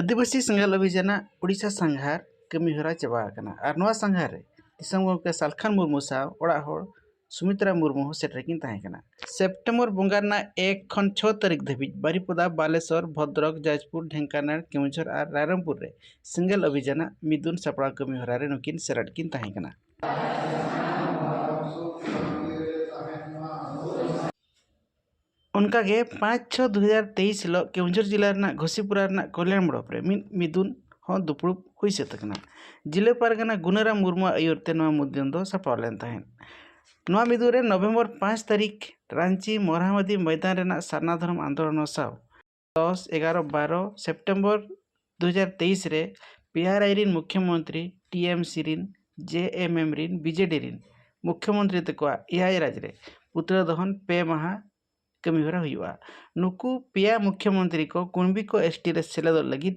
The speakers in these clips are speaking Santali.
ᱟᱹᱫᱤᱵᱟᱹᱥᱤ ᱥᱮᱸᱜᱮᱞ ᱚᱵᱷᱤᱡᱟᱱᱟᱜ ᱳᱰᱤᱥᱟ ᱥᱟᱸᱜᱷᱟᱨ ᱠᱟᱹᱢᱤᱦᱚᱨᱟ ᱪᱟᱵᱟ ᱟᱠᱟᱱᱟ ᱟᱨ ᱱᱚᱣᱟ ᱥᱟᱸᱜᱷᱟᱨ ᱨᱮ ᱫᱤᱥᱚᱢ ᱜᱚᱢᱠᱮ ᱥᱟᱞᱠᱷᱟᱱ ᱢᱩᱨᱢᱩ ᱥᱟᱶ ᱚᱲᱟᱜ ᱦᱚᱲ ᱥᱩᱢᱤᱛᱨᱟ ᱢᱩᱨᱢᱩ ᱦᱚᱸ ᱥᱮᱴᱮᱨ ᱠᱤᱱ ᱛᱟᱦᱮᱸ ᱠᱟᱱᱟ ᱥᱮᱯᱴᱮᱢᱵᱚᱨ ᱵᱚᱸᱜᱟ ᱨᱮᱱᱟᱜ ᱮᱠ ᱠᱷᱚᱱ ᱪᱷᱚ ᱛᱟᱹᱨᱤᱠᱷ ᱫᱷᱟᱹᱵᱤᱡ ᱵᱟᱨᱤᱯᱚᱫᱟ ᱵᱟᱞᱮᱥᱚᱨ ᱵᱷᱚᱫᱽᱨᱚᱠ ᱡᱟᱡᱽᱯᱩᱨ ᱰᱷᱮᱝᱠᱟᱱᱟᱲ ᱠᱮᱣᱚᱱᱡᱷᱚᱨ ᱟᱨ ᱨᱟᱭᱨᱚᱝᱯᱩᱨ ᱨᱮ ᱥᱮᱸᱜᱮᱞ ᱚᱵᱷᱤᱡᱟᱱᱟᱜ ᱢᱤᱫᱩᱱ ᱥᱟᱯᱲᱟᱣ ᱠᱟᱹᱢᱤᱦᱚᱨᱟ ᱨᱮ ᱱᱩᱠᱤᱱ ᱥᱮᱞᱮᱫ ᱠᱤᱱ ᱛᱟᱦᱮᱸ ᱠᱟᱱᱟ ᱚᱱᱠᱟ ᱜᱮ ᱯᱟᱸᱪ ᱪᱷᱚ ᱫᱩ ᱦᱟᱡᱟᱨ ᱛᱮᱭᱤᱥ ᱦᱤᱞᱳᱜ ᱠᱮᱣᱚᱱᱡᱷᱚᱨ ᱡᱮᱞᱟ ᱨᱮᱱᱟᱜ ᱜᱷᱳᱥᱤᱯᱩᱨᱟ ᱨᱮᱱᱟᱜ ᱠᱚᱞᱭᱟᱱ ᱵᱞᱚᱠ ᱨᱮ ᱢᱤᱫ ᱢᱤᱫᱩᱱ ᱦᱚᱸ ᱫᱩᱯᱲᱩᱵ ᱦᱩᱭ ᱥᱟᱹᱛ ᱟᱠᱟᱱᱟ ᱡᱮᱞᱟ ᱯᱟᱨᱜᱟᱱᱟ ᱜᱩᱱᱟᱹᱨᱟᱢ ᱢᱩᱨᱢᱩᱣᱟᱜ ᱟᱹᱭᱩᱨ ᱛᱮ ᱱᱚᱣᱟ ᱢᱩᱫᱩᱱ ᱫᱚ ᱥᱟᱯᱲᱟᱣ ᱞᱮᱱ ᱛᱟᱦᱮᱸᱫ ᱱᱚᱣᱟ ᱢᱤᱫᱩᱱ ᱨᱮ ᱱᱚᱵᱷᱮᱢᱵᱚᱨ ᱯᱟᱸᱪ ᱛᱟᱹᱨᱤᱠᱷ ᱨᱟᱺᱪᱤ ᱢᱚᱦᱟᱢᱚᱛᱤ ᱢᱚᱭᱫᱟᱱ ᱨᱮᱱᱟᱜ ᱥᱟᱨᱱᱟ ᱫᱷᱚᱨᱚᱢ ᱟᱱᱫᱳᱞᱚᱱ ᱥᱟᱶ ᱫᱚᱥ ᱮᱜᱟᱨᱚ ᱵᱟᱨᱚ ᱥᱮᱯᱴᱮᱢᱵᱚᱨ ᱫᱩ ᱦᱟᱡᱟᱨ ᱛᱮᱭᱤᱥ ᱨᱮ ᱯᱤ ᱟᱨ ᱟᱭ ᱨᱮᱱ ᱢᱩᱠᱷᱭᱚ ᱢᱚᱱᱛᱨᱤ ᱴᱤ ᱮᱢ ᱥᱤ ᱨᱮᱱ ᱡᱮ ᱮᱢ ᱮᱢ ᱨᱮᱱ ᱵᱤ ᱡᱮ ᱰᱤ ᱨᱮᱱ ᱢᱩᱠᱷᱭᱚ ᱢᱚᱱᱛᱨᱤ ᱛᱟᱠᱚᱣᱟᱜ ᱮᱭᱟᱭ ᱨᱟᱡᱽ ᱨᱮ ᱯᱩᱛᱲᱟᱹ ᱫᱚᱦᱚᱱ ᱯᱮ ᱢᱟᱦᱟ ᱠᱟᱹᱢᱤ ᱦᱚᱨᱟ ᱦᱩᱭᱩᱜᱼᱟ ᱱᱩᱠᱩ ᱯᱮᱭᱟ ᱢᱩᱠᱷᱭᱚ ᱢᱚᱱᱛᱨᱤ ᱠᱚ ᱠᱩᱬᱵᱤ ᱠᱚ ᱮᱥ ᱴᱤ ᱨᱮ ᱥᱮᱞᱮᱫᱚᱜ ᱞᱟᱹᱜᱤᱫ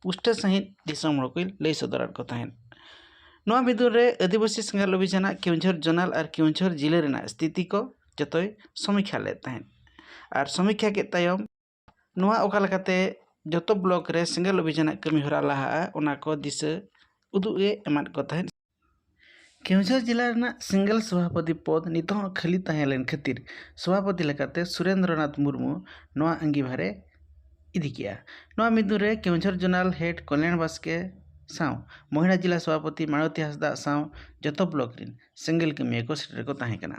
ᱯᱩᱥᱴᱟᱹᱣ ᱥᱟᱺᱦᱤᱡ ᱫᱤᱥᱚᱢ ᱦᱚᱲ ᱠᱚᱭ ᱞᱟᱹᱭ ᱥᱚᱫᱚᱨᱟᱫ ᱠᱚ ᱛᱟᱦᱮᱸᱫ ᱱᱚᱣᱟ ᱵᱤᱫᱟᱹᱞ ᱨᱮ ᱟᱹᱫᱤᱵᱟᱹᱥᱤ ᱥᱮᱸᱜᱮᱞ ᱚᱵᱷᱤᱡᱟᱱᱟᱜ ᱠᱮᱣᱡᱷᱚᱨ ᱡᱚᱱᱟᱞ ᱟᱨ ᱠᱮᱣᱡᱷᱚᱨ ᱡᱤᱞᱟᱹ ᱨᱮᱱᱟᱜ ᱥᱛᱷᱤᱛᱤ ᱠᱚ ᱡᱚᱛᱚᱭ ᱥᱚᱢᱤᱠᱠᱷᱟ ᱞᱮᱫ ᱛᱟᱦᱮᱸᱫ ᱟᱨ ᱥᱚᱢᱤᱠᱠᱷᱟ ᱠᱮᱫ ᱛᱟᱭᱚᱢ ᱱᱚᱣᱟ ᱚᱠᱟ ᱞᱮᱠᱟᱛᱮ ᱡᱚᱛᱚ ᱵᱞᱚᱠ ᱨᱮ ᱥᱮᱸᱜᱮᱞ ᱚᱵᱷᱤᱡᱟᱱᱟᱜ ᱠᱟᱹᱢᱤ ᱦᱚᱨᱟ ᱞᱟᱦᱟᱜᱼᱟ ᱚᱱᱟ ᱠᱚ ᱫᱤᱥᱟᱹ ᱩᱫᱩᱜ ᱮ ᱮᱢᱟᱫ ᱠᱚ ᱛᱟᱦᱮᱸᱫ ᱠᱮᱣᱡᱷᱟᱹᱨ ᱡᱮᱞᱟ ᱨᱮᱱᱟᱜ ᱥᱤᱝᱜᱮᱞ ᱥᱚᱵᱷᱟᱯᱚᱛᱤ ᱯᱚᱫᱽ ᱱᱤᱛ ᱦᱚᱸ ᱠᱷᱟᱹᱞᱤ ᱛᱟᱦᱮᱸ ᱞᱮᱱ ᱠᱷᱟᱹᱛᱤᱨ ᱥᱚᱵᱷᱟᱯᱚᱛᱤ ᱞᱮᱠᱟᱛᱮ ᱥᱩᱨᱮᱱᱫᱨᱚ ᱱᱟᱛᱷ ᱢᱩᱨᱢᱩ ᱱᱚᱣᱟ ᱟᱺᱜᱤᱵᱷᱟᱨ ᱮ ᱤᱫᱤ ᱠᱮᱫᱼᱟ᱾ ᱱᱚᱣᱟ ᱢᱤᱫ ᱫᱤᱱ ᱨᱮ ᱠᱮᱣᱡᱷᱟᱹᱨ ᱡᱚᱱᱟᱞ ᱦᱮᱰ ᱠᱚᱞᱭᱟᱬ ᱵᱟᱥᱠᱮ ᱥᱟᱶ ᱢᱚᱦᱤᱞᱟ ᱡᱮᱞᱟ ᱥᱚᱵᱷᱟᱯᱚᱛᱤ ᱢᱟᱬᱚᱛᱤ ᱦᱟᱸᱥᱫᱟᱜ ᱥᱟᱶ ᱡᱚᱛᱚ ᱵᱞᱚᱠ ᱨᱤᱱ ᱥᱤᱝᱜᱮᱞ ᱠᱟᱹᱢᱤᱭᱟᱹ ᱠᱚ ᱥᱮᱴᱮᱨ ᱠᱚ ᱛᱟᱦᱮᱸ ᱠᱟᱱᱟ᱾